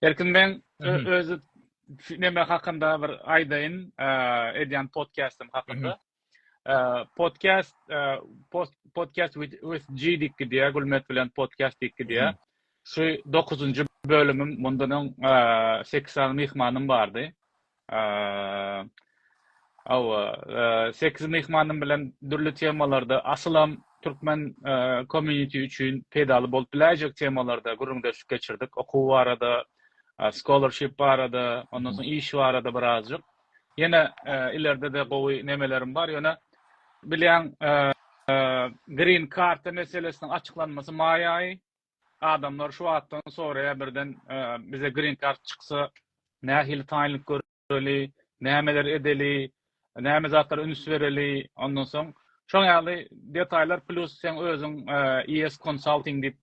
Erkin men özü neme hakynda bir aýdaýyn, edýän podcastym hakynda. Podcast podcast with G diýip gidýär, Gülmet bilen podcast diýip gidýär. Şu 9-njy bölümim, mundan öň 8 sany myhmanym bardy. Hawa, sekiz myhmanym bilen dürli temalarda, asylam türkmen community üçin peýdaly bolup biläýjek temalarda gürrüňdeşlik geçirdik. Okuw barada, scholarship barada, ondan soň iş barada birazjyk. Ýene ileride-de gowy nemelerim bar, ýöne bilýäň, green karta meselesiniň açyklanmasy maý aýy, Adamlar şu atdan soraýar birden bize green kart çyksa nähili taýynlyk göreli, nämeler edeli, näme zatlara üns bereli, ondan soň şoň ýaly detaýlar plus seň özüň ES Consulting diýip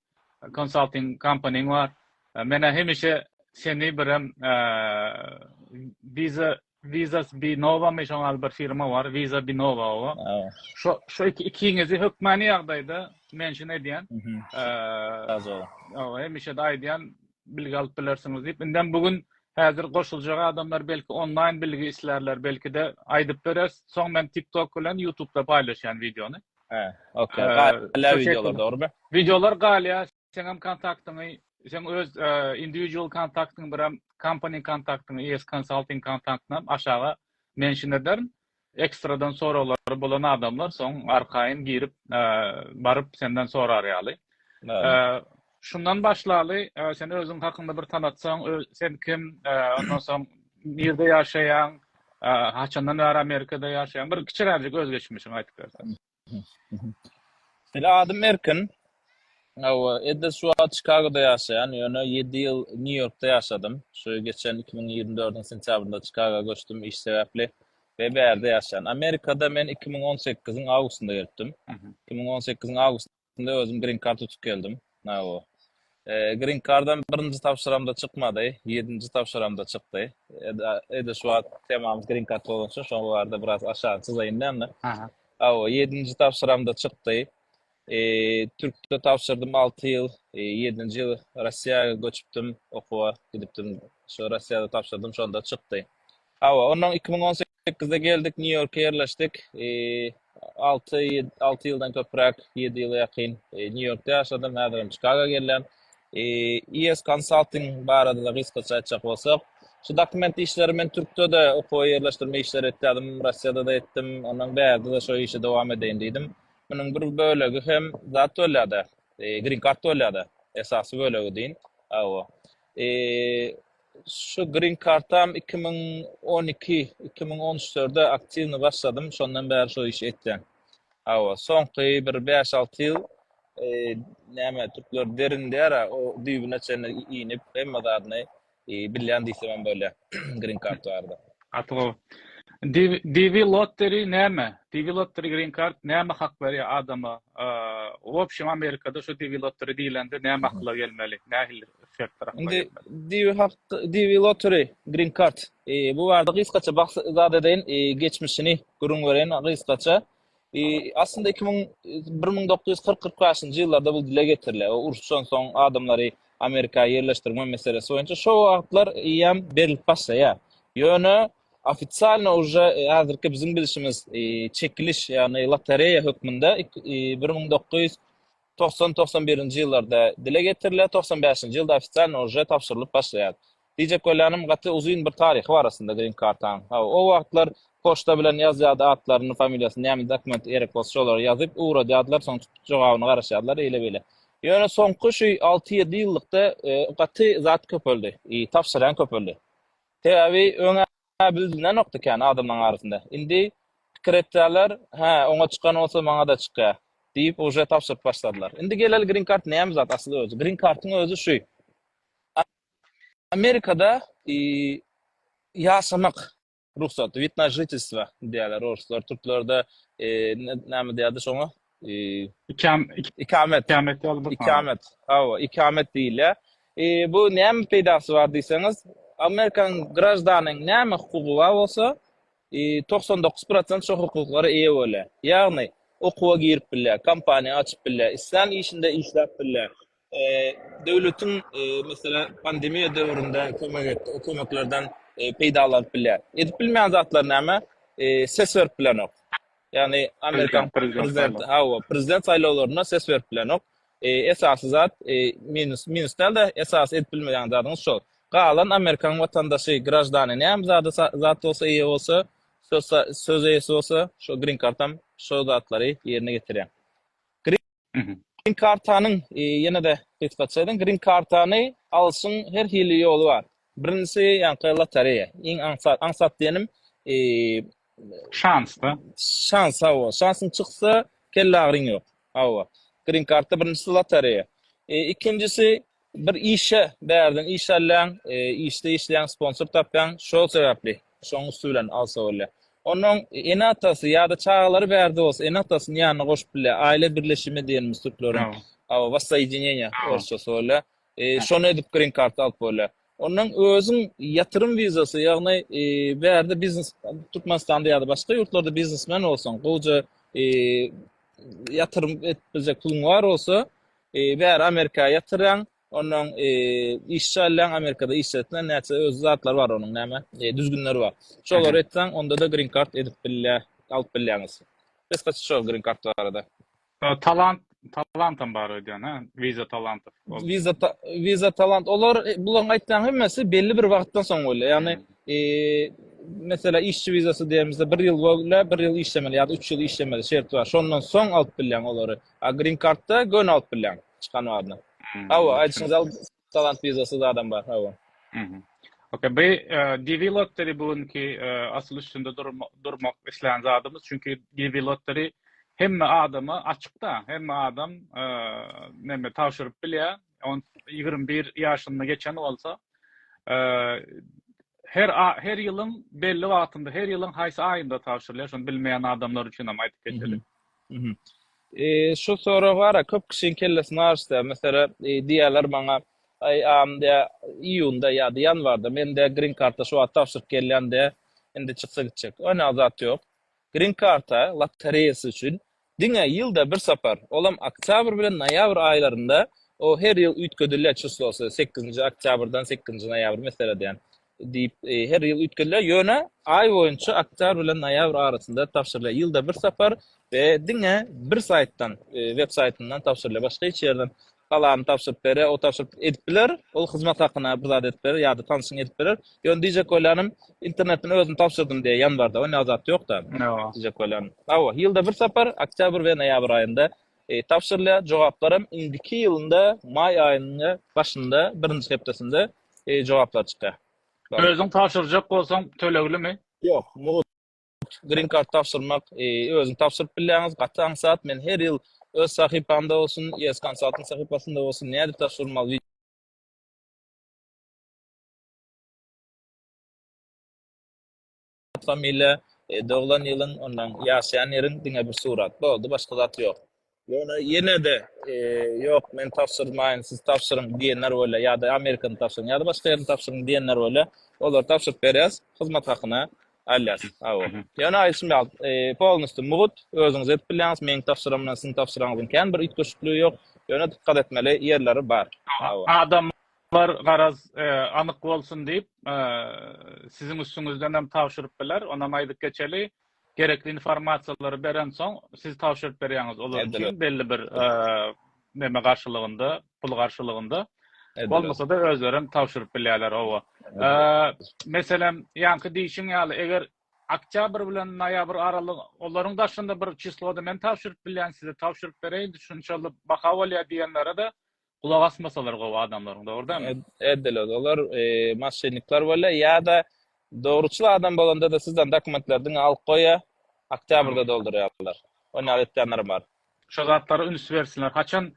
konsalting kompaniň bar. Menä hemişe seni birem wiza Vizas bi Nova my şoňal bir firma bar Visa bi Nova owa. Şo şo iki ikiňizi hökmany ýagdaýda mention edýän. Saz ol. Owa hemişe de aýdýan bilgi alyp bilersiňiz diýip. Indem bu gün häzir goşuljak adamlar belki onlaýn bilgi islärler belkide aýdyp bereris. Soň men TikTok bilen Ýutubda paýlaşýan wideony. He. Okey. Galýar wideolar dogrumy? Wideolar galýar. Seňem kontaktyňy, seň öz individual kontaktyňy birem company kontaktyňy ES Consulting kontaktyňam aşaga mention ederin. Ekstradan soraglary bolan adamlar soň arkaýyn girip baryp senden sorar ýaly. Şundan başlaly, sen özüň hakynda bir tanatsaň, sen kim, ondan soň nirde ýaşaýaň, haçandan bäri Amerikada ýaşaýaň, bir kiçiräjik özgeçmişiňi aýdyp berseň. Ine adym Erkin. Hawa, Edil şu wagt Çikagoda ýaşaýan, ýöne ýedi ýyl Nýu-Ýorkda ýaşadym. Şu geçen iki müň ýigrimi dördüň sentýabrynda Çikagoa göçdüm iş sebäpli we bärde ýaşaýan. Amerikada men iki müň on sekiziň awgustynda gelipdim. Iki müň on sekiziň awgustynda Şunda özüm grin kart tutup geldim. Nawo. Grin kardam birinji tabşyramda çykmady, ýedinji tabşyramda çykdy. Ede şu wagt temamyz grin kart bolan üçin şoňa barada biraz aşagyny çyzaýyn näme? Aha. Awo, ýedinji tabşyramda çykdy. Türkde tabşyrdym 6 ýyl, 7-nji ýyl Russiýa göçüpdim, okuwa gidipdim. Şo Russiýada tabşyrdym, şonda çykdy. Awa, ondan 2018 Sekizde geldik, Nýu-Ýorka ýerleşdik. Alty, alty ýyldan köpräk, ýedi ýyla ýakyn Nýu-Ýorkda ýaşadym. Häzir hem Çikaga gelýän. IS Consulting barada gysgaça aýtjak bolsak, şu dokument işleri men Türkde-de okuwa ýerleşdirme işleri etýärdim, Russiýada-da etdim, ondan bärde-de şo işi dowam edeýin diýdim. Munuň bir bölegi hem zat bolýar-da, grin kart bolýar-da, esasy bölegi deýin. Hawa. Şu green kartam iki müň on iki, iki müň on üçlerde aktiwny başladym, şondan bäri şu işi etýän. Hawa, soňky bir bäş-alty ýyl e, näme türkler derin diýär-ä, o düýbüne çenli inip, hemme zadyny e, bilýän diýsemem bolýar green kart barada. Gaty gowy. DV Lottery näme? DV Lottery Green Card näme hak berýär adama? Wobşem Amerikada şu DV Lottery diýlende näme akyla gelmeli? Nähili şertler akyla gelmeli? Indi DV hak DV Lottery Green Card bu barada gysgaça zat edeýin geçmişini gürrüň bereýin gysgaça. E, aslynda 2000 1940-45-nji ýyllarda bu dile getiriler. O uruşdan soň adamlary Amerika ýerleşdirme meselesi boýunça şo wagtlar ýam berilip başlaýar. Ýöne ofitsialny uje e, häzirki biziň bilişimiz e, çekiliş, ýagny lotereýa hökmünde 1990-91-nji e, ýyllarda dile getiriler, 95-nji ýylda ofitsialny uje tabşyrylyp başlaýar. Diýjek bolýanym gaty uzyn bir taryhy bar aslynda green kartaň. Hawa o wagtlar poçta bilen ýazýardy atlaryny familiýasyny näme dokument gerek bolsa şolary ýazyp ugradýardylar soň tutup jogabyny garaşýardylar eýle beýle. Ýöne soňky şu alty ýedi ýyllykda gaty zat köpeldi i tabşyrýan köpeldi. Sebäbi öňä bildilenokdy kän adamlaň arasynda. Indi pikir etýärler hä oňa çykan bolsa maňada çykýa diýip uje tabşyryp başladylar. Indi geleli green kart näme zat asyl özi. Green kartyň özi şu Amerikada ýaşamak rugsat, wid na žitelstwo diýýärler orslar, türklerde näme diýýärdi şoňa? Ikamet. Ikamet ýaly bir. Ikamet. Hawa, ikamet diýilýär. Bu näme peýdasy bar diýseňiz, Amerikanyň graždanynyň näme hukugy bar bolsa, togsan dokuz prosent şo hukuklara eýe bolýar. Ýagny, okuwa girip bilýär, kompaniýa açyp bilýär, islän işinde işläp bilýär. döwletiň meselem pandemiýa döwründe kömek etdi, o kömeklerden peýdalanyp bilýär. Edip bilmeýän zatlary näme? Ses berip bilenok. Ýagny amerikan prezidenti, hawa, prezident saýlawlarynda ses berip bilenok. Esasy zat minus, minus däl-de, esasy edip bilmeýän zadyňyz şol. Galan amerikan watandaşy, graždany näme zada zat bolsa eýe bolsa, söz söz eýesi bolsa, şo grin kartam şo zatlary ýerine getirýär. Green kartanyň ýene-de gysgaça edin. Green kartany alşyň her hili ýoly bar. Birinjisi ýaňky lotereýa. Iň aňsat, aňsat diýenim şansda. Şans hawa. Şansyň çyksa kelleagryň ýok. Hawa. Green karta birinjisi lotereýa. Ikinjisi Bir işe bärden iş alýaň, işde işleýäň, sponsor tapýaň, şol sebäpli şoň üsti bilen alsa bolýar. Onuň ene-atasy ýa-da çagalary bärde bolsa, ene-atasyny ýanyna goşup bilýär. Aýle birleşimi diýenimiz türkleriň, awa, wassoýedineniýe orsçasy bolýar. Şony edip green card alyp bolýar. Ondan özüň ýatyrym wizasy, ýagny bärde biznes, Türkmenistanda ýa-da başga ýurtlarda biznesmen bolsaň, gowja ýatyrym edip biljek puluň bar bolsa, Bäri Amerika ýatyrýaň. Onnoň işçi alýaň, Amerikada işçi etseň, näçe öz zatlary bar onuň näme, düzgünleri bar. Şolary etseň, onda-da green card edip bilýä, alyp bilýäňiz. Gysgaça şo green card barada. Talant, talantam bar öýdýän, hä? Visa talant. Visa, visa talant. Olar, bularyň aýtýan hemmesi belli bir wagtdan soň bolýar. Ýagny, meselä işçi vizasy diýemizde bir ýyl bolýar, bir ýyl işlemeli ýa-da üç ýyl işlemeli şerti bar. Şondan soň alyp bilýäň olary. A green kartda gön alyp bilýäň çykan badyna. Hawa, aýdyşyň zal talant wizasy zadam bar, hawa. Mhm. Okey, bu DV Lottery bu günki asyl üstünde durmak islän zadymyz, çünki DV Lottery hemme adama açykda, hemme adam näme tabşyryp bilýär, on ýigrimi bir ýaşyny geçen bolsa, her her ýylyň belli wagtynda, her ýylyň haýsy aýynda tabşyrylýar, şony bilmeýän adamlar üçin hem aýdyp geçeli. Şu sorag bar-a, köp kişiň kellesini aryşdyrýar. Meselem, diýýärler maňa, Aý, am, diýýär, iýunda ýa-da ýanwarda mende grin karta şu wagt tabşyryk gelýän, diýýär, indi çyksa gitjek. Onýaly zat ýok. Grin karta lotereýasy üçin diňe ýylda bir sapar, olam oktýabr bilen noýabr aýlarynda, o her ýyl üýtgedilýär çyslosy, sekizinji oktýabrdan sekizinji noýabr meselem diýen. diýip, her ýyl üýtgedilýär. Ýöne aý boýunça oktýabr bilen noýabr arasynda tabşyrylýar. Ýylda bir sapar we diňe bir saýtdan, web saýtyndan tabşyrylýar. Başga hiç ýerden Galany tabşyryp berer, o tabşyryp edip biler. Ol hyzmat hakyna bir zat edip berer ýa-da tanşyň edip berer. Ýöne diýjek bolýanym, internetden özüm tabşyrdym diýýär ýanwarda. Ony ýa zat ýok-da. Diýjek bolýanym. Hawa, ýylda bir sapar oktýabr we noýabr aýynda tabşyrylýar, jogaplaram indiki ýylynda maý aýynyň başynda, birinji hepdesinde jogaplar çykýar. Özüň tabşyrjak bolsaň töleglimi? Ýok, mugt Green Card tabşyrmak özüňiz tabşyryp bilýäňiz, gaty aňsat, men her ýyl öz sahypamda bolsun, ES Consulting sahypasynda bolsun, nädip tabşyrmaly, at familiýa doglan ýylyň ondan ýaşaýan ýeriň diňe bir surat boldy başga zat ýok ýöne ýene-de ýok men tabşyrmaýyn siz tabşyryň diýenler bolýar ýa-da amerikany tabşyryň ýa-da başga ýerini tabşyryň diýenler bolýar olary tabşyryp berýäs hyzmat hakyna alýas aw ýöne aýdyşym ýaly polnusty mugut özüňiz edip bilýäňiz meň tabşyram bilen siziň tabşyraňyzyň kän bir üýtgeşikli ýok ýöne dykgat etmeli ýerleri bar adam Olar garaz anyk bolsun diýip, siziň üstüňizden hem tabşyryp biler. Onam aýdyp geçeli, gerekli informasiýalary berensoň, siz tabşyryp berýäňiz olar üçin belli bir neme garşylygynda, pul garşylygynda. Bolmasa-da özleri hem tabşyryp bilýärler, hawa. Meselem, ýaňky diýşiň ýaly, eger oktýabr bilen noýabr aralygy, olaryň daşynda bir çislody men tabşyryp bilýän, size tabşyryp bereýin, şunçaly baha bolýar diýenlere-de Gulak asmasalar gowy adamlaryň dogurdamy? Edeler olar maşynnikler bolýa ýada dogruçyl adam bolanda-da sizden dokumentleri diňe alyp goýa, oktýabrda doldurýarlar. Ony ýaly etýänlerem bar. Şo zatlara üns bersinler. Haçan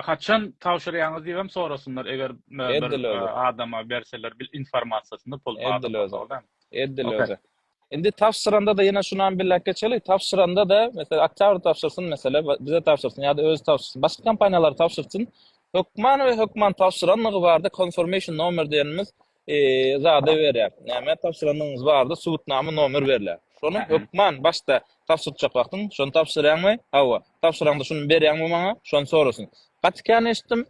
haçan tabşyrýaňyz diýibem sorasynlar eger bir adama berseler bil informasiýasyny pul babatda. Edil özi. Indi tabşyranda-da ýene şunam billäp geçeli, tabşyranda-da, meselem, oktýabr tabşyrsyn, meselem, bize tabşyrsyn ýa-da özi tabşyrsyn, başga kompaniýalara tabşyrsyn, hökman we hökman tabşyranlygy barada konformeýşn nomer diýenimiz zada berýär. Näme tabşyranlygyňyz barada subutnama nomer berýär. Şony hökman başda tabşyrjak wagtyň, şony tabşyrýaňmy? Hawa. Tabşyraňda şuny berýäňmi maňa? Şony sorasyn. Gaty kän eşitdim,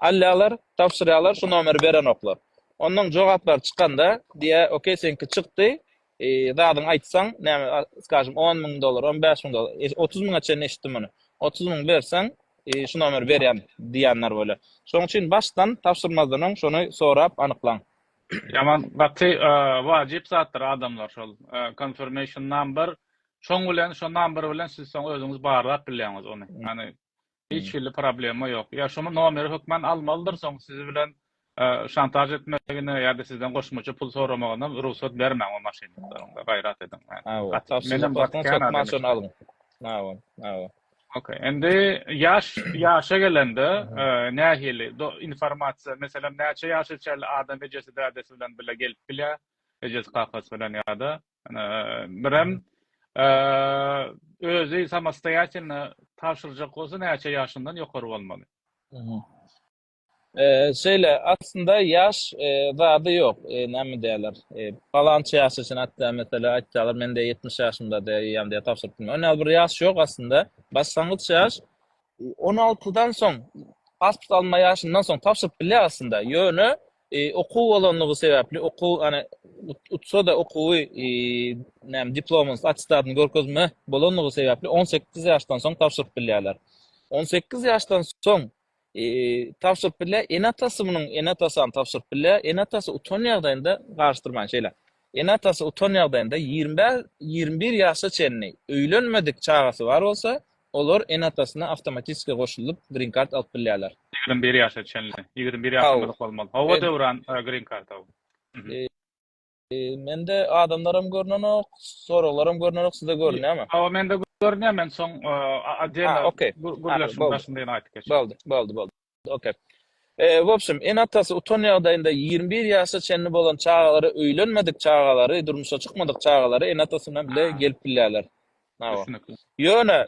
alýarlar, tabşyrýarlar, şu nomeri berenoklar. Ondan jogaplary çykanda diýä okey seňki çykdy zadyň aýtsaň näme skažym on müň dollar on bäş müň dollar otuz müňe çenli eşitdim muny otuz müň berseň şu nomeri berýän diýenler bolýar şoň üçin başdan tabşyrmazdan öň şony sorap anyklaň Ýaman gaty wajyp zatdyr adamlar şol confirmation number şoň bilen şo number bilen siz soň özüňiz barlap bilýäňiz ony ýagny Hiç hili problema ýok. Ýa şuny nomeri hökmän almalydyr, soň sizi bilen şantaž etmegine ýa-da sizden goşmaça pul soramagyna rugsat bermäň o maşennikleriň. Gaýrat ediň. Menem gaty kän adam. Hawa, hawa. Ok. Indi ýaş, ýaşa gelende nähili informasiýa, meselem näçe ýaşa çenli adam ejesi-dädesi bilen bile gelip bilýär, ejesi-kakasy bilen ýa-da Birem özi samostoýatelno tabşyrjak bolsa näçe ýaşyndan ýokary bolmaly? Şeýle, aslynda ýaş zady ýok. Näme diýerler? Palançy ýaş üçin hatda meselem aýtsalar mende ýetmiş ýaşymda diýýän diýip tabşyryp bilmän. Ony bir ýaş ýok aslynda. Başlangyç ýaş on altydan soň pasport alma ýaşyndan soň tabşyryp bilýär aslynda. Ýöne Okuw bolanlygy sebäpli, okuw, ýagny utsa-da okuwy, näme, diplomyny, attestadyny görkezme bolanlygy sebäpli on sekiz ýaşdan soň tabşyryp bilýärler. On sekiz ýaşdan soň tabşyryp bilýär. Ene-atasy munuň, ene-atasy hem tabşyryp bilýär. Ene-atasy utan ýagdaýynda, garyşdyrmaýyn şeýle, ene-atasy utan ýagdaýynda ýigrimi bäş, ýigrimi bir ýaşa çenli öýlenmedik çagasy bar bolsa, Olar ene-atasyna awtomatiski goşulyp green card alyp bilýärler. Ýigrimi bir ýaşa çenli. Ýigrimi bir ýaşdan Haw. uly bolmaly. Hawa Döwran green card haw. Mende adamlaram görnenok, soraglaram görnenok, size görünýärmi? Hawa mende görünýär men soň a a diýen gürleşiň başynda ýene aýdyp geçerin. Boldy, boldy, boldy. Ok. W opşem, ene-atasy utan ýagdaýynda ýigrimi bir ýaşa çenli bolan çagalary, öýlenmedik çagalary, durmuşa çykmadyk çagalary ene-atasy bilen bile gelip bilýärler. Na wa. Ýöne,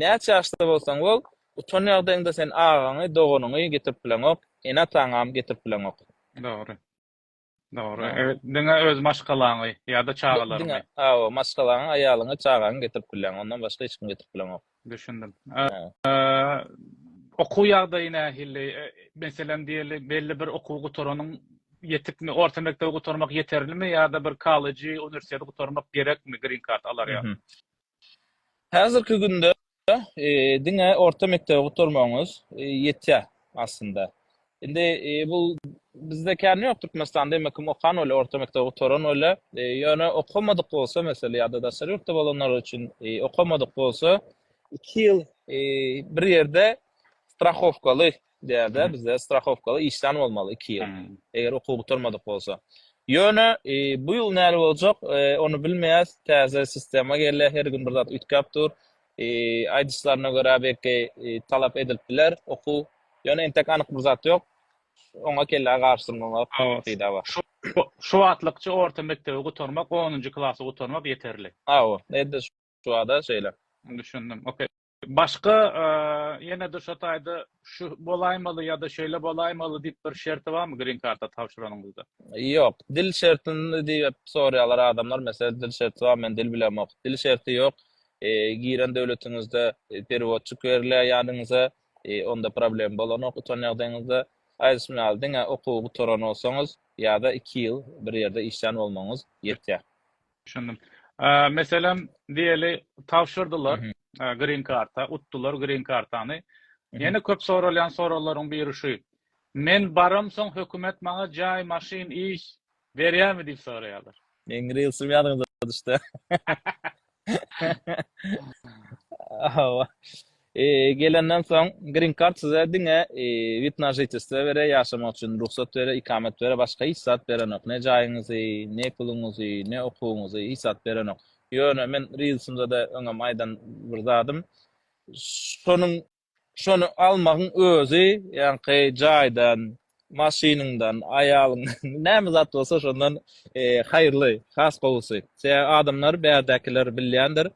näçe ýaşda bolsaň bol, utan ýagdaýyňda sen agaňy, doganyňy getirip bileňok, ene-ataňam getirip bileňok. Dogry. Dogry. Diňe öz maşgalaňy ýa-da çagalaryňy. Diňe, hawa, maşgalaňy, aýalyňy, çagaňy getirip bilýäň. Ondan başga hiç kimi getirip bileňok. Düşündim. Okuw ýagdaýy nähili? Meselem, diýeli, belli bir okuwy gutaranyň ýetikmi? Orta mekdebi gutarmak ýeterlimi ýa-da bir kollejy, uniwersiteti gutarmak gerekmi grin kart alarýa? Häzirki günde diňe orta mekdebi gutarmagyňyz ýetýär aslynda. Indi bu bizde kän ýok Türkmenistanda emma kim okan bolýar, orta mekdebi gutaran bolýar. Ýöne okamadyk bolsa meselem ýa-da daşary ýurtda bolanlar üçin okamadyk bolsa iki ýyl bir ýerde strahowkaly Däde bizde strahowkaly işlän bolmaly iki ýyl. Eger okuw gutarmadyk bolsa. Ýöne bu ýyl näle boljak, ony bilmeýäs. Täze sistema gelýär, her gün bir zat üýtgäp dur. Aýdyşlaryna görä belki talap edilip biler okuw. Ýöne entek anyk bir zat ýok. Oňa kellä garşylmamak peýda bar. Şu wagtlykça orta mekdebi gutarmak, onunjy klasy gutarmak ýeterli. Hawa, edil şu wagta şeýle. Düşündim. Okey. Başga ýene-de şo taýda şu bolaýmaly ýa-da şeýle bolaýmaly diýip bir şerti barmy green karta tabşyranyňyzda? Ýok. Dil şertini diýip sorýarlar adamlar. Meselem dil şerti bar, men dil bilemok. Dil şerti ýok. Giren döwletiňizde perewodçik berilýär ýanyňyza. Onda problem bolanok utan ýagdaýyňyzda. Aýdyşym ýaly diňe okuwy gutaran bolsaňyz ýa-da iki ýyl bir ýerde işlän bolmagyňyz ýetýär. Düşündim. Meselem, diýeli, tabşyrdylar grin karta, utdular grin kartany. Ýene köp soralýan soraglaryň biri şu, Men baram soň hökümet maňa jaý, maşyn, iş berýärmi diýip soraýarlar. Meň rilsim ýadyňda düşdi. Hawa. Gelenden soň Green Card size diňe wid na žitestvo berer, ýaşamak üçin rugsat berer, ikamet berer, başga hiç zat berenok. Ne jaýyňyzy, ne puluňyzy, ne okuwyňyzy hiç zat berenok. Ýöne men rilsimde de öňem aýdan bir zadym, şonuň şony almagyň özi ýaňky jaýdan, maşynyňdan, aýalyňdan, näme zat bolsa şondan haýyrly, has gowusy. Sebäbi adamlar, bärdäkiler bilýändir,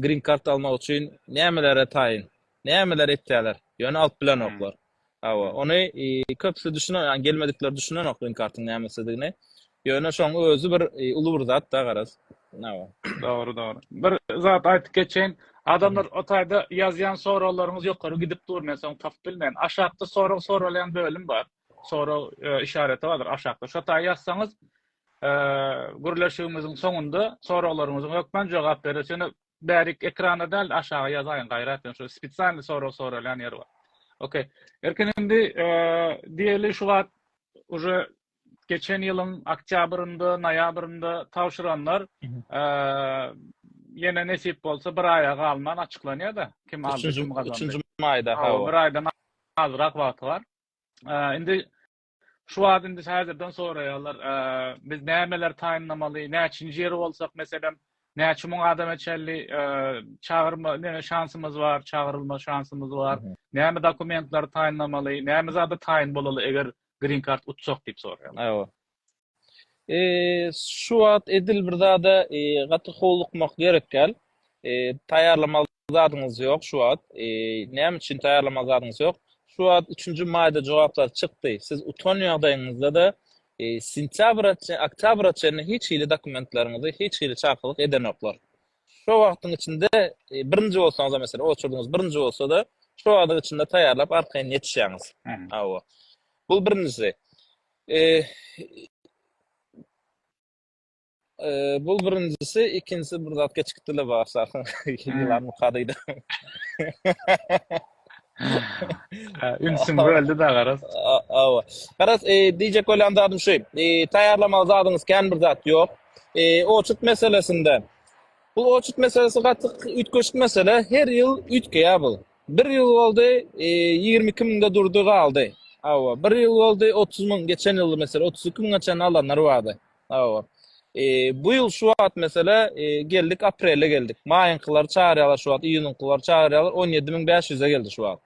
green card almak üçin nämelere taýyn, nämeler etýärler, ýöne alyp bilenoklar. Hawa, ony köpüsi düşünenok, ýagny gelmedikler düşünenok green card-yň nämesidigini. Ýöne şoň özi bir uly bir zat da garaz. Nawa. Dogry dogry. Bir zat aýdyp geçeýin. Adamlar o taýda ýazýan soraglaryňyz ýokary gidip dur men soň tapyp bilmen. Aşakda sorag soralýan bölüm bar. Sorag işareti bardyr aşakda. Şo taý ýazsaňyz gürleşigimiziň soňunda soraglaryňyzyň hökman jogap beres. Ýöne bärik ekrana däl aşaga ýazaýyň gaýrat ýöne şo spesialny sorag soralýan ýer bar. Okey. Erkin indi diýeli şu wagt uje geçen ýylyň oktýabrynda, noýabrynda tabşyranlar ýene nesip bolsa bir aýa galman açyklanýar-da, kim aldy, kim gazandy. Üçünji maýda, hawa. Bir aýdan azrak wagty bar. Indi şu wagt indi häzirden soraýarlar, biz nämeleri taýynlamaly, näçinji ýeri bolsak, meselem, näçe müň adama çenli çagyrma, näme şansymyz bar, çagyrylma şansymyz bar, näme dokumentleri taýynlamaly, näme zada taýyn bolaly, eger green card utjak diýip soraýarlar. Hawa. Şu wagt edil bir zada gaty howlukmak gerek däl. Taýýarlamaly zadyňyz ýok şu wagt. Näme üçin taýýarlamaly zadyňyz ýok? Şu wagt 3-nji maýda jogaplar çykdy. Siz utan ýagdaýyňyzda-da sentýabra, oktýabra çenli hiç hili dokumentleriňizi hiç hili çakylyk edenoklar. şo wagtyň içinde birinji bolsaňyzam mesela oçurdyňyz birinji bolsada şo wagtyň içinde taýýarlap arkaýyn ýetişýäňiz hawa bul birinjisi bul birinjisi ikinjisi bir zat geçip gitdile barsa ýylan mukadyda Ünsüm böldi da garaz. Awa. Garaz, diýjek bolýan zadym şu. Taýýarlamaly zadyňyz kän bir zat ýok. Eee oçut meselesinde. Bu oçut meselesi gaty üýtgeşik mesele. Her ýyl üýtgeýär bu. Bir ýyl boldy, eee 22 müňde durdy galdy. Hawa, bir ýyl boldy 30 müň, geçen ýyl mesele 32 müňe çenli alanlar bardy. Hawa. Eee bu ýyl şu wagt mesele eee geldik aprele geldik. Maýyňkylary çagyrýarlar şu wagt, iýunyňkylary çagyrýarlar 17 müň 500'e geldi şu wagt.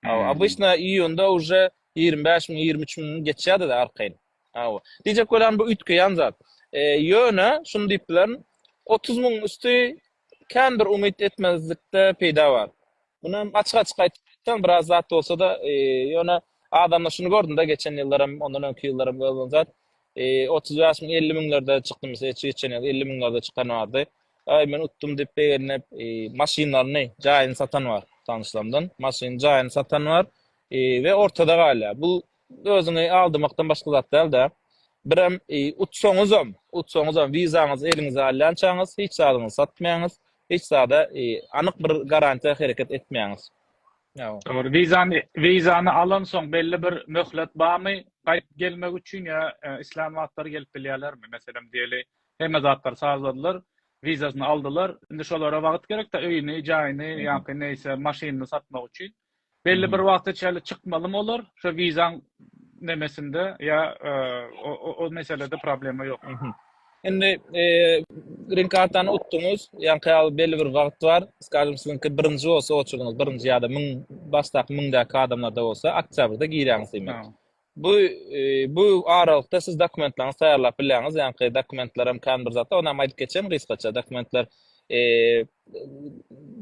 Hawa, obysna iýunda uje 25 müň, 23 müň geçýärdi-de arkaýyn. Hawa. Diýjek bolýan bu üýtgeýän zat. Ýöne şuny diýip bilerin, otuz müň üsti kän bir umyt etmezlikde peýda bar. Muny hem açyk-açyk aýtsaň biraz zat bolsa-da, ýöne adamda şuny gördüm-de geçen ýyllaram, ondan öňki ýyllaram görlen zat, otuz bäş müň, elli müňlerde çykdy mysal, geçen ýyl elli müňlerde çykan bardy. Aý men utdum diýip begenip, maşynlaryny, jaýyny satan bar tanyşlarymdan. Maşynyny, jaýyny satan bar we ortada galýar. Bu Özüňi aldamakdan başga zat däl-dä. Birem utsaňyzam, utsaňyzam wizaňyzy eliňize alýançaňyz hiç zadyňyzy satmaýaňyz, hiç zada anyk bir garantiýa hereket etmeýäňiz. Dogry, wizany wizany alansoň belli bir möhlet barmy gaýdyp gelmek üçin ýa islän wagtlary gelip bilýärlermi? Meselem diýeli, hemme zatlary sazladylar, wizasyny aldylar, indi şolara wagt gerekdä öýüni, jaýyny ýa-da neýse maşynyny satmak üçin. Belli bir wagta çenli çykmalymy olar? Şu wizaň nemesinde ýa o meselede problema ýok. Indi green kartany utduňyz, ýaňky ýaly belli bir wagt bar. Skajem siziňki birinji bolsa oçurdyňyz, birinji ýa-da 1000 başdaky 1000 däki adamlarda bolsa oktýabrda girýäňiz diýmek. Bu bu aralykda siz dokumentleriňizi taýýarlap bilýäňiz, ýaňky dokumentler hem kän bir zatlar, ony hem aýdyp geçeýin gysgaça. Dokumentler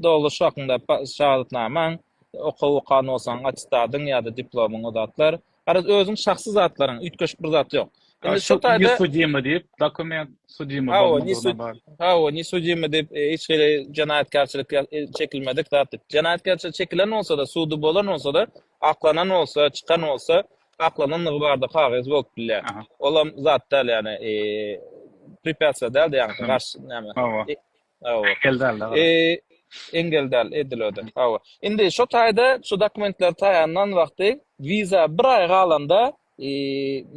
doluş hakynda şahadatnamaň, okuw okan bolsaň attestadyň ýa-da diplomyň o zatlar. Garaz özüň şahsy zatlaryň, üýtgeşik bir zat ýok. Indi şu taýda ne sudimy diýip, dokument sudimy bolmadygyna bar. Hawa, ne sudimy diýip, hiç hili jenaýatkärçilik çekilmedik zat diýip. Jenaýatkärçilik çekilen bolsa-da, sudy bolan bolsa-da, Aklanan bolsa, çykan bolsa, aklanandygy barada kagyz bolup bilýär. Olam zat däl, ýagny prepýatsia däl-de, ýagny garşy näme. Hawa. Hawa. Engel däl. Engel däl, edil öde. Hawa. Indi şu taýda şu dokumentler taýýarlan wagty wiza bir aý galanda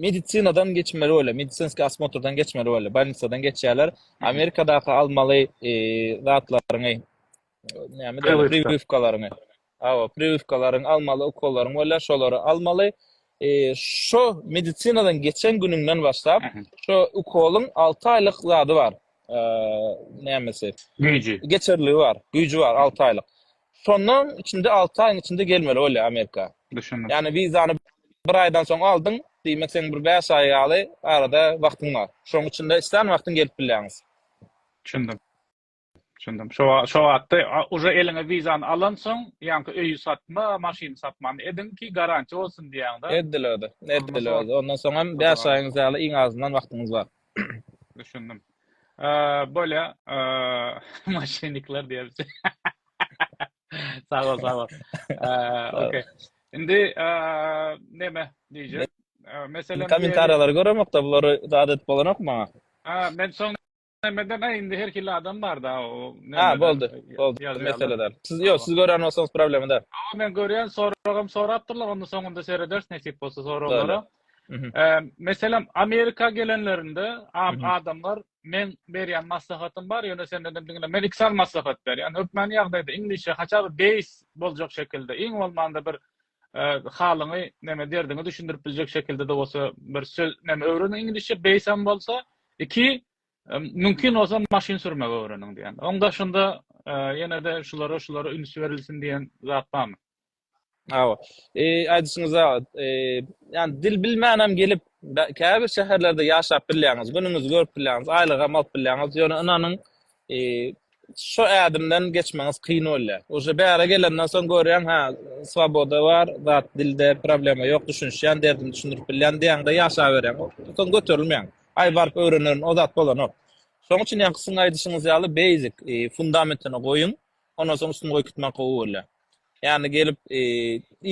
medisinadan geçmeli bolýar, medisinskiý asmotrdan geçmeli bolýar, bolnisadan geçýärler. Amerikadaky almaly zatlaryňy, näme diýýärler, priwywkalaryňy. Hawa, priwywkalaryňy almaly, ukollaryň bolýar, şolary almaly. E, şu medisinadan geçen günüňden başlap, şu ukolyň 6 aýlyk zady bar. E, nämesi? Güýji. Geçerligi bar, güýji bar 6 aýlyk. Şondan içinde 6 aýyň içinde gelmeli bolýar Amerika. Düşündim. Ýagny wizany bir aýdan soň aldyň, diýmek sen bir 5 aý ýaly arada wagtyň bar. Şoň içinde islan wagtyň gelip bilýäňiz. Düşündim. Düşündim. Şo şo wagtda uje eliňe wizany alansoň, ýaňky öýi satma, maşyny satmany ediň ki, garantiýa bolsun diýýäňdä. Edilerde. Edilerde. Ondan soň hem 5 aýyň ýaly iň azyndan wagtyňyz bar. Düşündim. Bolýa, maşynnikler diýerdi. Sag bol, sag bol. Okey. Indi näme diýjek? Meselem, kommentariýalary göremokda, bulary adat bolanok maňa. Ha, men soň Nämäden aý indi her hili adam barda o näme. Ha boldy. Boldy. Mesele däl. Siz ýok, siz görýän bolsaňyz problema däl. Awa men görýän soragym sorapdyrlar onda soňunda serederis nesip bolsa soraglara. Meselem Amerika gelenlerinde adamlar men berýän maslahatym bar ýöne sen dedim diňle men iki sany maslahat berýän. Hökmany ýagdaýda iňlisçe haçan base boljak şekilde iň bolmanda bir halyňy neme derdiňi düşündirip biljek şekildede bolsa bir söz neme öwreniň iňlisçe beýs hem bolsa iki mümkin bolsa maşyn sürmegi öwreniň diýen oň daşynda ýene-de şulara şulara üns berilsin diýen zat barmy Awa. E, aýdyşyňyz abat. E, ýani dil bilmänem gelip, käbir şäherlerde ýaşap bilýäňiz, günüňizi görüp bilýäňiz, aýlygam alyp bilýäňiz. Ýöne ynanyň, Şo ädimden geçmeňiz kyn bolýar. Uje bära gelenden soň görýäň, hä, swoboda bar, zat dilde problema ýok, düşünişýän, derdimi düşündirip bilýän diýäňde ýaşaberýäň. Soň göterilmeýäň. Aý baryp öwrenerin, o zat bolanok. Şoň üçin ýaňky siziň aýdyşyňyz ýaly basic fundamentini goýuň. Ondan soň üstüni goýup gitmek gowy bolýar. Ýani gelip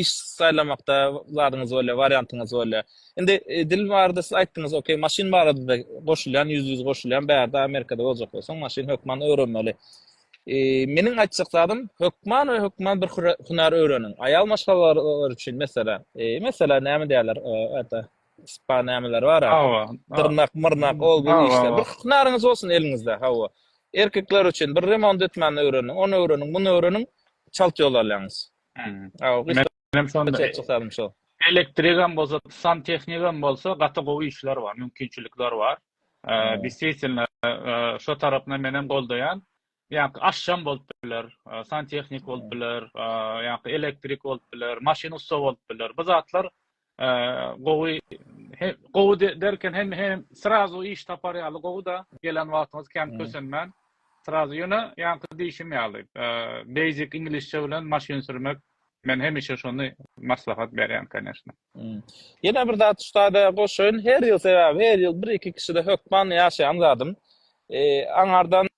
iş saýlamakda zadyňyz bolýar, wariantyňyz bolýar. Indi dil barada siz aýtdyňyz, okey, maşyn barada-da goşulýan, ýüzbe-ýüz goşulýan, bärde Amerikada boljak bolsaň, maşyn hökman öwrenmeli. Meniň aýtjak zadym, hökman we hökman bir hünär öwreniň. Aýal maşgalalary üçin, meselem, meselem näme diýerler, spa nämeler bara. Hawa. Dyrnak, myrnak, ol bu işler. Bir hünaryňyz bolsun eliňizde, hawa. Erkekler üçin bir remont etmäni öwreniň, ony öwreniň, muny öwreniň, çalt ýol alýaňyz. Hawa, gysga. Menem şonda çykalym şo. Elektrigam bolsa, santehnikam bolsa gaty gowy işler bar, mümkinçilikler bar. Eee, distwitnla, eee, şo tarapynda menem goldaýan. Ýa-da aşçam bolup biler, santehnik bolup biler, ýa-da elektrik bolup biler, maşyn ussa bolup biler. Bu zatlar gowy, gowy derken hem hem srazu iş tapar ýaly gowy-da, gelen wagtyňyz kän kösenmän, srazu ýöne ýaňky diýşim ýaly, basic iňlisçe bilen maşyn sürmek Men hemişe şony maslahat berýän koneşna. Ýene bir zat ussada goşaýyn, her ýyl sebäbi her ýyl bir iki kişide hökman ýaşaýan zadym. Aňardan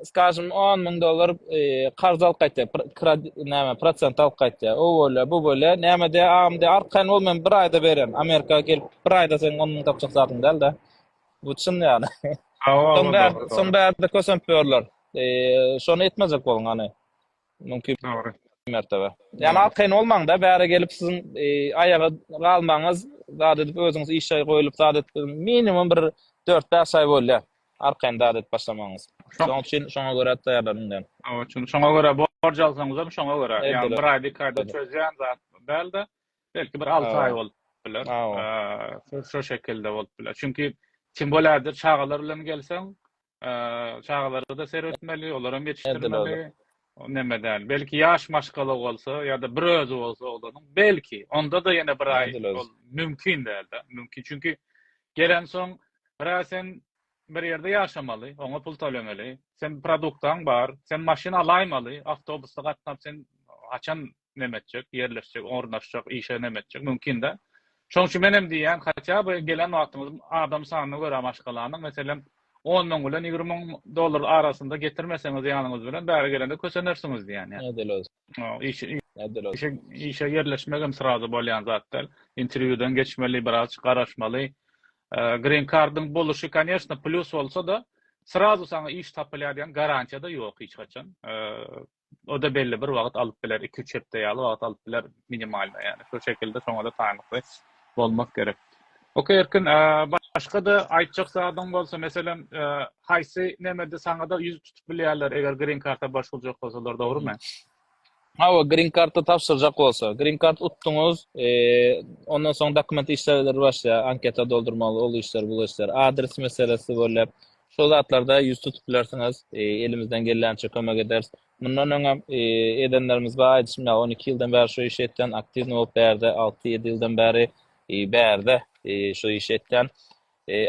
skažym on müň dollar karz alyp gaýtýar, näme prosent alyp gaýtýar. O bolýar, bu bolýar. Näme diýýär agam diýýär, arkaýyn bol men bir aýda berýän. Amerika gelip bir aýda seň on müň tapjak zadyň däl-de. Bu çyn ýaly. Soň bärde kösenip ýörler. Şony etmejek boluň hany. Mümkin. Dogry. Mertebe. Ýani az kyn bolmaňda bäri gelip siziň aýaga galmaňyz zat edip özüňiz işe goýulyp zat edip minimum bir dört bäş aý bolýar arkaýyn zat edip başlamagyňyz. Şoň üçin şoňa görä taýýarlanyň diýen. Oň üçin şoňa görä borç alsaňyzam şoňa görä ýani bir aýda iki aýda çözýän zat dälde belki bir alty aý bolup biler şo şekilde bolup biler çünki tim bolýa çagalar bilen gelseň çagalara-da seretmeli, olar hem ýetişdirmeli. Näme däl. Belki ýaş maşgala bolsa ýa-da bir özi bolsa oglanyň, belki onda-da ýene bir aý ol mümkin däl-de. Mümkin, çünki gelen soň bir aý sen bir ýerde ýaşamaly, oňa pul tölemeli. Sen produktaň bar, sen maşyn alaýmaly, awtobusda gatnap sen haçan neme etjek, ýerleşjek, ornaşjak, işe neme etjek, mümkin-dä. Şonuň üçin menem diýýän, hatda bu gelen wagtyňyz adam sanyna görä maşgalany, meselem, on müň bilen ýigrimi müň dollar arasynda getirmeseňiz ýanyňyz bilen, bäri gelende kösenersiňiz diýýän ýa. Edil özü. Edil özü. Işe ýerleşmegem srazu bolýan zat däl. Interwýudan geçmeli, biraz garaşmaly. Green kardyň boluşy, konýeşne, plýus bolsa-da, srazu saňa iş tapylýar diýen garantiýa-da ýok hiç haçan. O-da belli bir wagt alyp biler, iki-üç hepde ýaly wagt alyp biler minimalno ýagny şo şekilde şoňada taýynlykly bolmak gerek. Ok Erkin başga-da aýtjak zadyň bolsa meselem haýsy nemede saňada ýüz tutup bilýärler eger green karta başwurjak bolsalar dogrymy? Hawa green karta tabşyrjak bolsa. Green kart utduňyz ondan soň dokument işleleri başlaýar anketa doldurmaly ol işler bu işler adres meselesi bolýar Şol zatlarda ýüz tutup bilersiňiz. Elimizden gelýänçe kömek ederis. Mundan öňem edenlerimiz bar, aýdyşym ýaly, on iki ýyldan bäri şu işi etýän, aktiwnyý bolup bärde, alty-ýedi ýyldan bäri bärde şu işi etýän.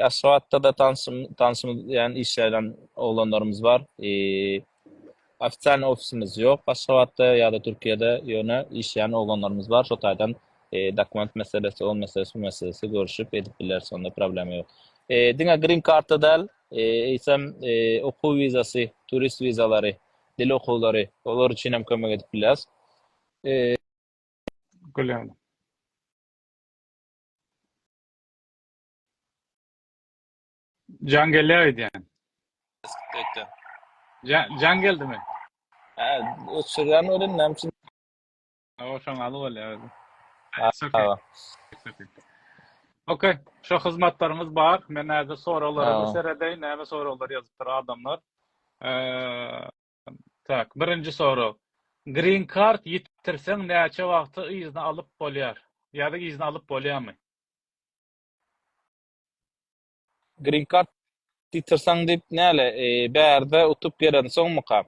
Aşgabatda-da tanşym, tanşymyz diýýän işleýän oglanlarymyz bar. Ofitsialny ofisimiz ýok Aşgabatda ýa-da Türkiýede, ýöne işleýän oglanlarymyz bar, şo taýdan dokument meselesi, o meselesi, bu meselesi görüşip edip bileris, onda problema ýok. Diňe grin karta däl, eýsem okuw wizasy, turist wizalary, dil okuwlary, olar üçin hem kömek edip bileris. Gülýän. Jan gelýär aýdýan. Aýtýan. Jan, jan geldimi? Ha, öçürýän welin näme üçin? O şoň aly bolýar. Okey, şu hyzmatlaryňyz bar. Men häzir soraglarymy seredeýin, näme soraglar ýazypdyr adamlar. Eee, tak, birinji sorag. Green card ýitirseň näçe wagtda yzyny alyp bolýar? Ýa-da yzyny alyp bolýarmy? Green card ýitirseň diýip näle bärde utup gelensoňmyka?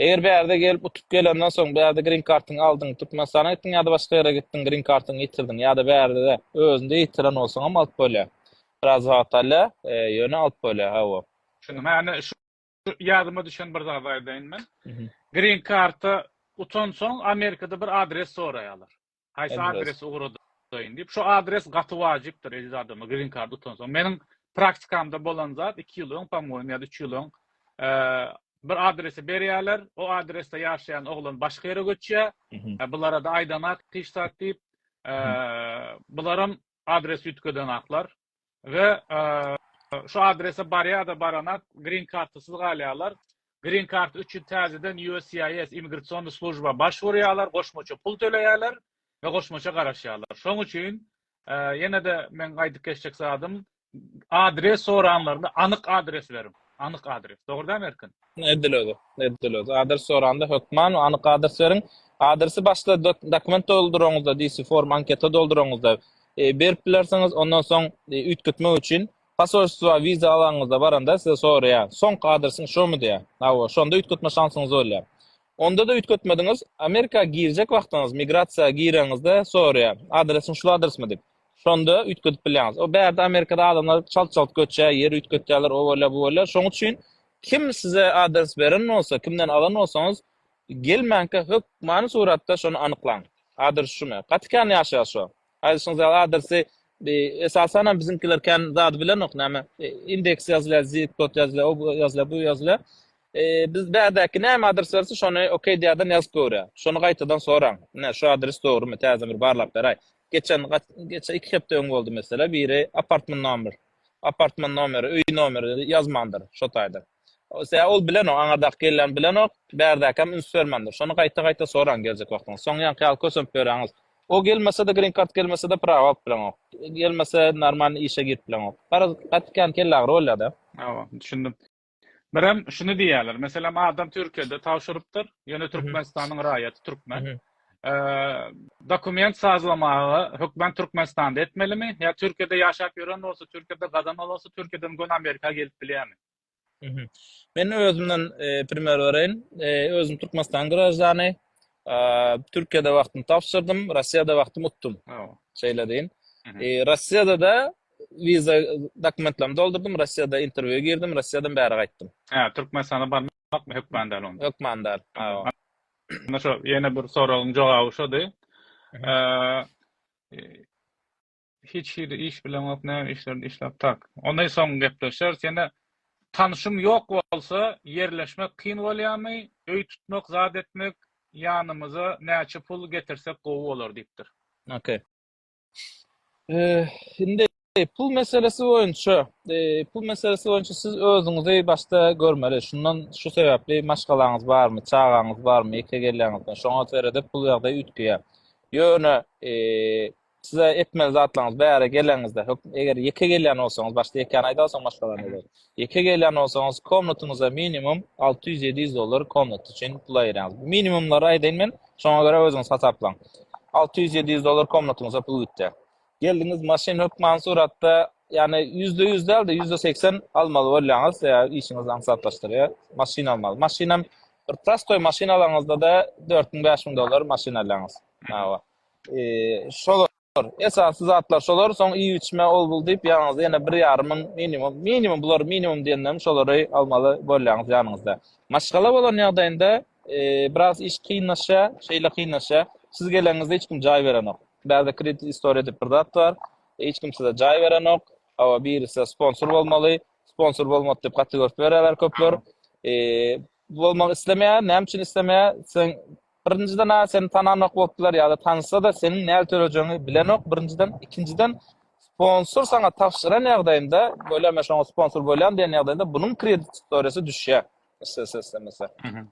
Eger bärde gelip utup gelenden soň bärde green kartyňy aldyň Türkmenistana gitdiň ýa-da başga ýere gitdiň green kartyňy ýitirdiň ýa-da bärde özünde ýitiren bolsaňam alyp bolýar. Biraz wagt alýar ýöne alyp bolýar hawa. Şunuň hany Ýadyma düşen bir zady aýdaýyn men. Green karta utansoň Amerikada bir adres soraýarlar. Haýsy adres ugradaýyn diýip. Şu adres gaty wajypdyr eziz adama green karta utansoň. Meniň praktikamda bolan zat 2 ýyl öň, pamoýim, ýa-da 3 ýyl öň bir adresi berýärler, o adresde ýaşaýan oglan başga ýere göçýär. Bulara da aýdanak hiç zat diýip, bularam adres üýtgeden aklar we şu adrese barýada barana green kartasyz galýarlar. Green kart üçin täzeden USCIS immigrasion slujba baş wurýarlar, goşmaça pul töleýärler we goşmaça garaşýarlar. Şoň üçin ýene de men aýdyp geçjek zadym adres soranlarynda anyk adres beriň. Anyk adres. Dogrudan Erkin? Edil özi, edil özi. Adres soranda hökman we anyk adres beriň. Adresi başda dokument dolduraňyzda, diýsi form anketa dolduraňyzda e, berip bilersiňiz. Ondan soň e, üýtgetmek üçin posolstwa wiza alaňyzda baranda size soraýar. Soňky adresiň şomy diýär. Hawa, şonda üýtgetme şansyňyz bolýar. Onda da üýtgetmediňiz, Amerika girjek wagtyňyz migrasiýa gireňizde soraýar. Adresiň şu adresmi diýip. Şonda üýtgedip bilýäňiz. O bärde Amerikada adamlar çalt-çalt göçýär, ýer üýtgetýärler, o bolýar, bu bolýar. Şoň üçin Kim size adres beren bolsa, kimden alan bolsaňyz, gelmänkä hökmany suratda şony anyklaň. Adres şumy? Gaty kän ýaşaýar şo. Aýdyşyňyz ýaly adresi esasanam biziňkiler kän zady bilenok, näme indeks ýazylýar, zip kod ýazylýar, o ýazylýar, bu ýazylýar. Biz bärdäki näme adres berse şony okey diýerden ýazyp göwrýär. Şony gaýtadan soraň. Ine şu adres dogrymy? Täzeden bir barlap beräý. Geçen geçen iki hepde öň boldy mesele, biri apartment nomer apartman nomeri, öý nomeri ýazmandyr, şo taýda. Sebäbi ol bilenok, aňyrdaky gelin bilenok, bärdäkäm üns bermändir. Şony gaýta-gaýta soraň geljek wagtyňyz. Soň ýaňky ýaly kösenip ýöräňiz. O gelmese-de, green card gelmese-de prawa alyp bileňok. Gelmese, normalny işe girip bileňok. Garaz, gaty kän kelleagyry bolýar-da. Hawa, düşündim. Birem şuny diýýärler, meselem, adam Türkiýede tabşyrypdyr, ýöne Türkmenistanyň raýaty türkmen. Dokument sazlamagy hökmän Türkmenistanda etmelimi? Ýa Türkiýede ýaşap ýören bolsa, Türkiýede gazan bolsa, Türkiýeden göni Amerika gelip bilýärmi? Men özümden primer bereýin. Özüm Türkmenistanyň graždany. Türkiýede wagtymy tabşyrdym, Rossiýada wagtymy utdum. Şeýle deýin. Rossiýada-da wiza dokumentlerimi doldurdym, Rossiýada interwýua girdim, Rossiýadan bäri gaýtdym. Hä, Türkmenistana barmakmy hökman däl onda? Hökman däl. Onda şo ýene bir soragyň jogaby şody. Hiç hili iş bileňok näme işlerde işläp tak. Ony soň gepleşeris ýene tanşym ýok bolsa ýerleşmek kyn bolýamy öý tutmak zat etmek ýanymyza näçe pul getirsek gowy bolar diýipdir. Ok. Indi pul meselesi boýunça pul meselesi boýunça siz özüňizi başda görmeli şundan şu sebäpli maşgalaňyz barmy çagaňyz barmy ýeke gelýäňizmi şoňa seredip pul ýagdaýy üýtgeýär ýöne Size etmeli zatlaryňyz bäri geleňizde, hökm, eger ýeke gelýän bolsaňyz, başda ýekäni aýdar, soň başga zat aýdaýyn. Ýeke gelýän bolsaňyz, komnatyňyza minimum alty ýüz, ýedi ýüz dollar komnat üçin pul aýyrýaňyz. Minimumlary aýdaýyn men, şoňa görä özüňiz hasaplaň. Alty ýüz, ýedi ýüz dollar komnatyňyza pul gitýär. Geldiňiz, maşyn hökman suratda, ýagny ýüzde ýüz däl-de, ýüzde segsen almaly bolýaňyz, ýa işiňiz aňsatlaşdyrýar, maşyn almaly. Maşyn hem bir prostoý maşyn alaňyzda-da dört müň, bäş müň dollar maşyn alýaňyz. Hawa. Şolar, esasy zatlar şolar, soň iýip-içme ol-bul diýip, ýanyňyzda ýene bir ýarym müň minimum, minimum bular minimum diýenlerim şolary almaly bolýaňyz ýanyňyzda. Maşgala bolan ýagdaýynda biraz iş kynlaşýar, şeýle kynlaşýar, siz geleniňizde hiç kim jaý berenok. Bärde kredit istoriýa diýip bir zat bar, hiç kim size jaý berenok, hawa biri size sponsor bolmaly, sponsor bolmady diýip gaty görüp berýärler köpler. Bolmak islemeýär, näme üçin islemeýär? Sen birinjiden a seni tananok bolupdylar ýa-da tanysada seniň näl tölejegiňi bilenok birinjiden, ikinjiden sponsor saňa tabşyran ýagdaýynda, bolýar men şoňa sponsor bolýan diýen ýagdaýynda bunuň kredit istoriýasy düşýär. Islese islemese.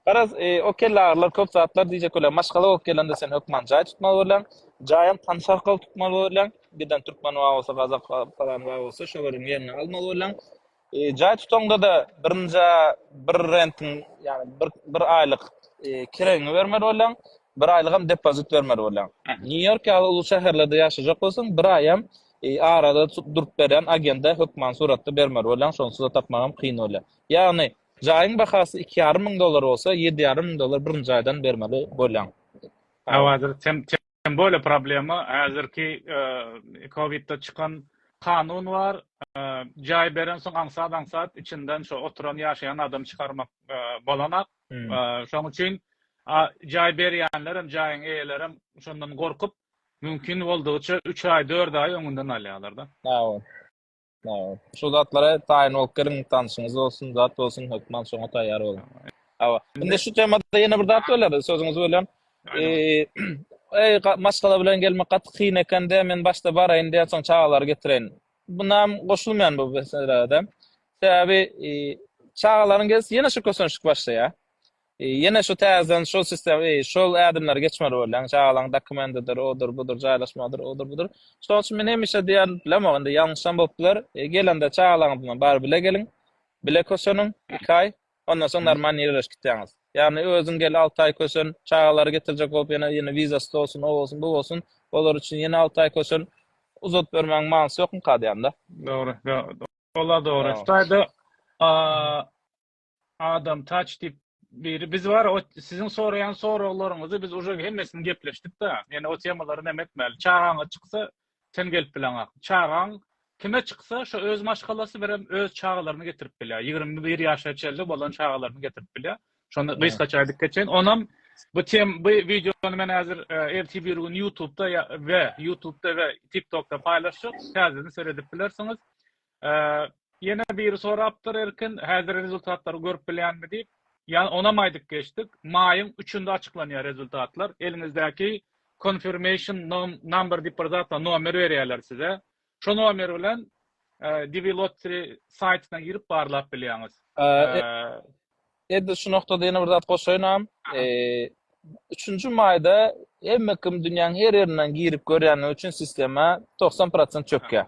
Garaz, e, o kellarylar köp zatlar diýjek bolýar. Maşgala bolup gelende sen hökman jaý tutmaly bolýaň. Jaýam tanyş arkaly tutmaly bolýaň. Giden türkmen bar bolsa, gazak bar, palan bar bolsa şolary ýerine almaly bolýaň. Jaý tutaňda-da birinjä bir rentiň, ýagny bir bir aýlyk kiregiňi bermeli bolýaň, bir aýlygam depozit bermeli bolýaň. Nýu-Ýork ýaly uly şäherlerde ýaşajak bolsaň, bir aýam arada durup berýän agende hökmany suratda bermeli bolýaň, şonsuz-da tapmagam kyn bolýar. Ýagny, jaýyň bahasy iki ýarym müň dollar bolsa, ýedi ýarym müň dollar birinji aýdan bermeli bolýaň. Awa, sen Hem böyle problema hazirki kowitde çykan kanun bar, jaý beren soň aňsat aňsat içinden şo oturan ýaşaýan adamy çykarmak bolanak. Şoň üçin jaý berýänlerem jaýyň eýelerem şondan gorkup mümkin boldugyça üç aý dört aý öňünden alýarlar da. Sag bol. Awa. Şu zatlara taýyn bolup geliň, tanşyňyz bolsun, zat bolsun, hökman şoňa taýýar boluň. Awa. Indi şu temada ýene bir zat böler, sözüňizi bölýän. Eee, eý, maşgala bilen gelmek gaty kyn eken-de, men başda baraýyn diýen, soň çagalary getireýin. Buna hem goşulmaýan bu meselä-de. Sebäbi, eee, çagalaryň gelsi ýene şu kösenişik başlaýar. Ýene şu täzeden şol sistem eý şol ädimleri geçmeli bolýaň çagalaň dokumendidir odur budur jaýlaşmagydyr odur budur şoň üçin men hemişe diýýän bilemok indi ýalňyşam bolup biler gelende çagalaňyz bilen bary bile geliň bile köşeniň iki aý ondan soň normal nireleşip gitýäňiz ýagny özüň gel alty aý köşen çagalary getirjek bolup ýene ýene wizasy dolsun o bolsun bu bolsun olar üçin ýene alty aý köşen uzadyp bermegiň manysy ýokmyka diýýän da dogry dogry olar dogry şu taýda Adam taç diýip biri biz bar o siziň soraýan soraglaryňyzy biz uje hemmesini gepleşdik da ýene o temalary näme etmäli çagaňa çyksa sen gelip bileňak çagaň kime çyksa şo öz maşgalasy berem öz çagalaryny getirip bilýär ýigrimi bir ýaşa çenli bolan çagalaryny getirip bilýär şonda gysgaça aýdyp geçeýin onam bu tem bu wideony men häzir e, erti bir gün youtubeda we youtubeda we tiktokda paýlaşjak täzeden seredip bilersiňiz Ýene biri sorapdyr Erkin, häzir rezultatlary görüp bilýänmi diýip. Ýa onam aýdyp geçdik. Maýyň üçünde açyklanýar rezultatlar. Eliňizdäki confirmation number diýip bir zat bar, nomer berýärler size. Şo nomer bilen DiviLottery saýtyna girip barlap bilýäňiz. Edil şu noktada ýene bir zat goşaýynam. Eee, üçünji maýda hemme kim dünýäň her ýerinden girip görýänligi üçin sistema togsan prosent çökýär.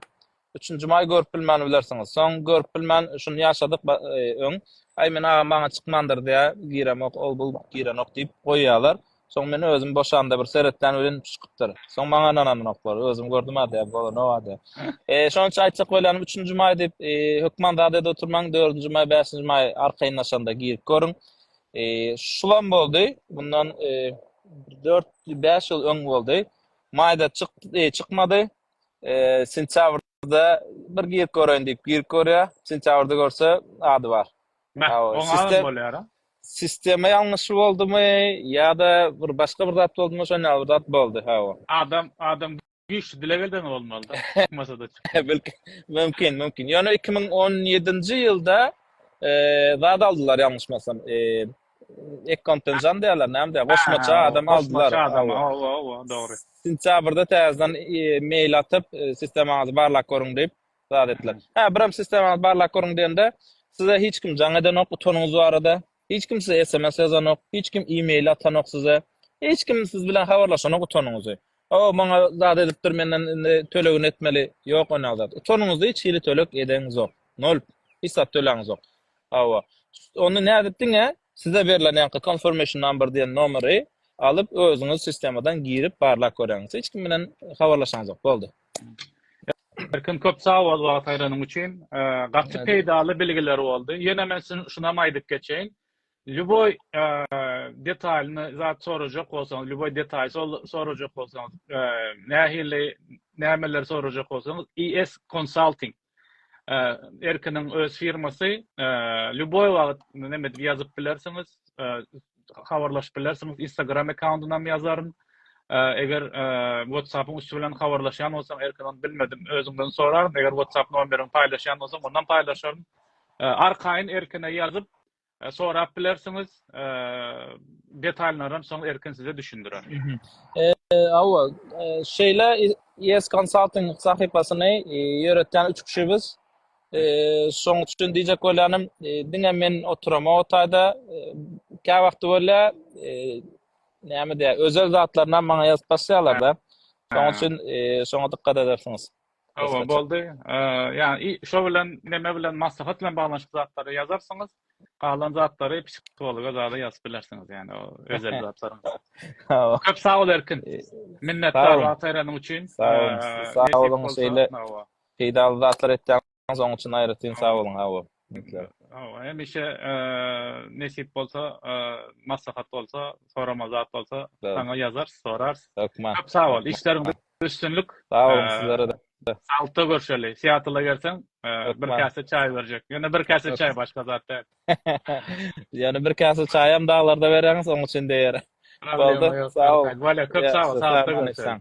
Üçünji maý görüp bilmän bilersiňiz. Soň görüp bilmän şuny ýaşadyk ba- eee, öň. Aý, men agam maňa çykmandyr diýýär, giremok, ol-bul girenok diýip goýýarlar. Soň men özüm boşanda bir seretlen welin çykypdyr. Soň maňa ynananoklar. Özüm gördüm-ä diýip, bolanow-a diýip. E, şonuň üçin aýtjak bolýanym, üçünji maý diýip, e, hökman zat edip oturmaň, dördünji maý, bäşinji maý arkaýynlaşanda girip görüň. E, şulam boldy, mundan e, dört, bäş ýyl öň boldy. Maýda çyk, e, çykmady. E, sentýabrda bir girip göreýin diýip, girip görýär. Sentýabrda görse, ady bar. Sistema ýalňyşy boldumy ýa-da bir başga bir zat boldumy şon ýaly bir zat boldy hawa. Adam adam güýçli dileg edeni bolmalyda çykmasada çykdy. Mümkin mümkin ýöne iki müň on ýedinji ýylda zat aldylar ýalňyşmasam ekkontenjandy ýaly näme diýýär goşmaça adam aldylar. Goşmaça adam hawa hawa dogry. Sentýabrda täzeden mail atyp sistemaňyzy barlap görüň diýip zat etdiler. Hä, birem sistemaly barlag görüň diýende, size hiç kim jaň edenok utanyňyz barada, hiç kim size sms ýazanok, hiç kim e-mail atanok size, hiç kim siz bilen habarlaşanok utanyňyzy. O, maňa zat edipdir, menden indi tölegini etmeli. Ýok onýaly zat. Utanyňyzy hiç hili töleg edeňizok. Nol. Hiç zat töläňizok. Hawa. Onda nädip diňe size berlen ýaňky confirmation number diýen nomeri alyp özüňiz sistemadan girip barlag göräňiz. Hiç kim bilen habarlaşaňyzok. Boldy. Erkin köp sag bol wagt aýranyň üçin. Gaty peýdaly bilgiler boldy. Ýene men şunam aýdyp geçeýin. Lýuboý detalyny zat sorajak bolsaňyz, lýuboý detaly sorajak bolsaňyz, nähili nämeleri sorajak bolsaňyz, IS Consulting Erkiniň öz firmasy lýuboý wagt näme edip ýazyp bilersiňiz, habarlaşyp bilersiňiz. Instagram akkauntynam ýazaryn. Eger WhatsApp-yň üsti bilen habarlaşýan bolsaň Erkin ony bilmedim, özüňden soraryn. Eger WhatsApp nomeriňi paýlaşýan bolsaň onam paýlaşaryn. Arkaýyn Erkine ýazyp sorap bilersiňiz. Detalynarynam soň Erkin size düşündirer. Hawa, şeýle ES Consulting sahypasyny ýöretýän üç kişi biz. Şonuň üçin diýjek bolýanym, diňe men oturamok o taýda. Käwagty bolýar, näme diýer, özel zatlarynam maňa ýazyp başlaýarlar-da. Şonuň üçin şoňa dykgat edersiňiz. Hawa, boldy. Ýa-ni şo bilen neme bilen maslahat bilen baglanyşykly zatlary ýazarsyňyz. Galan zatlary psihologa zada ýazyp bilersiňiz, ýa-ni o özel zatlaryňyzy. Hawa. Köp sag bol Erkin. Minnetdar wagt aýranyň üçin. Sag boluň. Sag boluň şeýle peýdaly zatlar etýäňiz. Onuň üçin aýratyn sag boluň. Hawa. Hawa, hemişe nesip bolsa, maslahat bolsa, soramaly zat bolsa, saňa ýazarys, sorarys. Hökman. Köp sag bol. Işleriňde Üstünlik. Sag boluň sizlere-de. Saglyklda görşeli. Seattle-a gelseň, bir käse çaý berjek. Ýöne bir käse çaý, başga zat däl. Ýöne bir käse çaýam daglarda bereňiz, oň üçin deýer. Boldy. Sag bol. Köp sag bol. Saglyklda görşeli.